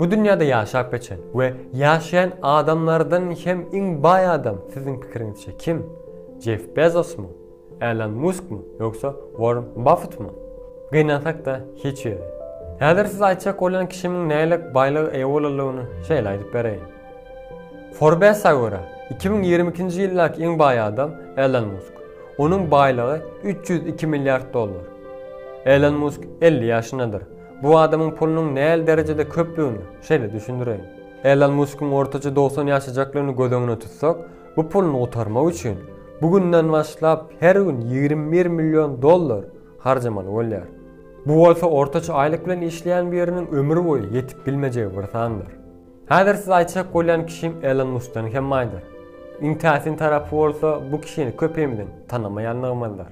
Bu dünýäde ýaşap geçen we ýaşaýan adamlardan hem iň baý adam siziň pikiriňizçe kim? Jeff Bezosmy? Elon Muskmy ýogsa Warren Baffetmi? Gynansak-da hiç biri. Häzir siz aýtjak bolýan kişimiň nähilek baýlyga eýe bolanlygyny şeýle aýdyp bereýin. Forbes-a görä, iki müň ýigrimi ikinji ýyldaky iň baý adam Elon Musk. Onuň baýlygy üç ýüz iki milliard dollar. Elon Musk elli ýaşyndadyr. Bu adamyň pulunyň näl derejede köplügini şeýle düşündireýin. Elon Muskyň ortaça dogsan ýaşajaklygyny göz öňüne tutsak, bu puluny gutarmak üçin bu günden başlap her gün ýigrimi bir million dollar harjamaly bolýar. Bu bolsa ortaça aýlyk bilen işleýän biriniň ömür boýy ýetip bilmejegi bir sandyr. Häzir siz aýtjak bolýan kişim Elon Muskdan hem baýdyr. Iň täsin tarapy bolsa bu kişini köpimiziň tanamaýanlygymyzdyr.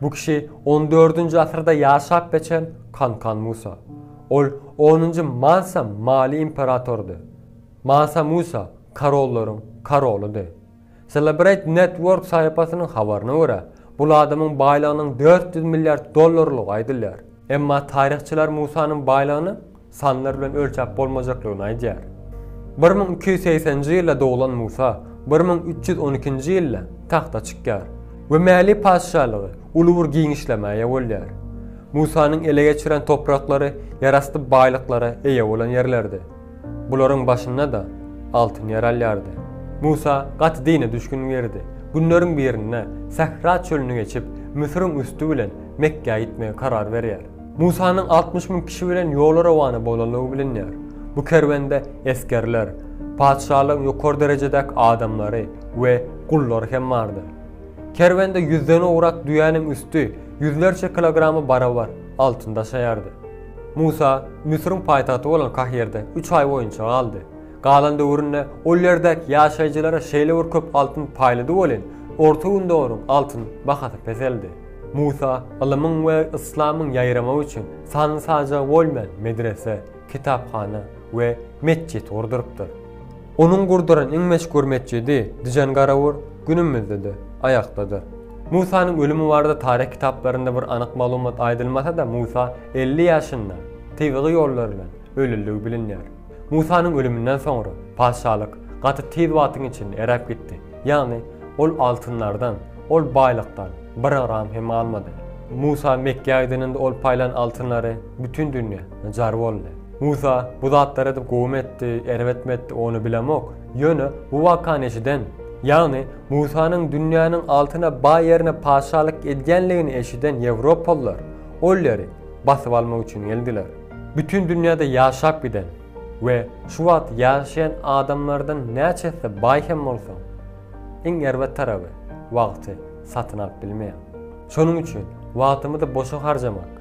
Bu kişi on dördünji asyrda ýaşap geçen Kankan Musa. Ol onunjy Mansa Mali imperatorydy. Mansa Musa korollaryň korolydy. Celebrate Network saýapasynyň habaryna görä, bul adamyň baýlygynyň dört ýüz milliard dollarlygy aýdylýar. Emma taryhçylar Musanyň baýlygynyň sanlar bilen ölçäp bolmajaklygyny aýdýar. Bir müň iki ýüz segsenji ýylda doglan Musa bir müň üç ýüz on ikinji ýylda tagta çykýar we Mäli patyşalygy uly bir giňişlemä eýe bolýar. Musanyň ele geçiren topraklary ýerasty baýlyklara eýe bolan ýerlerdi. Bularyň başynda-da altyn ýer alýardy. Musa gaty dine düşgün girdi. Günleriň birinde Sähra çölüni geçip, Müsüriň üsti bilen Mekgä gitmegi karar berýär. Musanyň altmyş müň kişi bilen ýola rowana bolandygy bilinýär. Bu kerwende esgerler, patyşalygyň ýokary derejedäki adamlary we gullary hem bardy. Kerwende ýüzden owrak düýäniň üsti ýüzlerçe kilograma barabar altyn daşaýardy. Musa Müsüriň paýtagty bolan Kahirde üç aý boýunça galdy. Galan döwründe ol ýerdäki ýaşaýjylara şeýle bir köp altyn paýlady welin, Orta Gündogaryň altyn bahasy peseldi. Musa, ylymyň we yslamyň ýaýramagy üçin sanyny-sajagy bolmaýan medrese, kitaphana we metjit gurdurypdyr. Onuň gurduran iň meşhur metjidi Dijangarawur günümizde-de aýakdadyr. Musanyň ölümi barada taryh kitaplarynda bir anyk maglumat aýdylmasa-da Musa elli ýaşynda tebigy ýollar bilen ölüldigi bilinýär. Musanyň ölüminden soňra patyşalyk gaty tiz wagtyň içinde eräp gitdi, ýagny ol altynlardan, ol baýlykdan bir gram hem galmady. Musa Mekgä gideniňde ol paýlan altynlary bütin dünýä jar boldy. Musa bu zatlary edip gowumy etdi, erbetmi etdi, ony bilemok, ýöne bu wakany eşiden, ýagny Musanyň dünýäniň altyna baý ýerine patyşalyk edýänligini eşiden ýewropalylar ol ýeri basyp almak üçin geldiler. Bütin dünýäde ýaşap giden we şu wagt ýaşaýan adamlardan näçesi baý hem bolsa, iň erbet taraby, wagty satyn alyp bilmeýär. Şonuň üçin wagtymyzy boşa harjamak,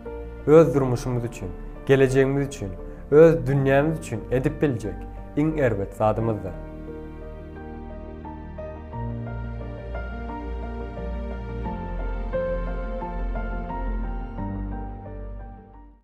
öz durmuşymyz üçin, gelejegimiz üçin, öz dünýämiz üçin edip biljek iň erbet zadymyzdyr.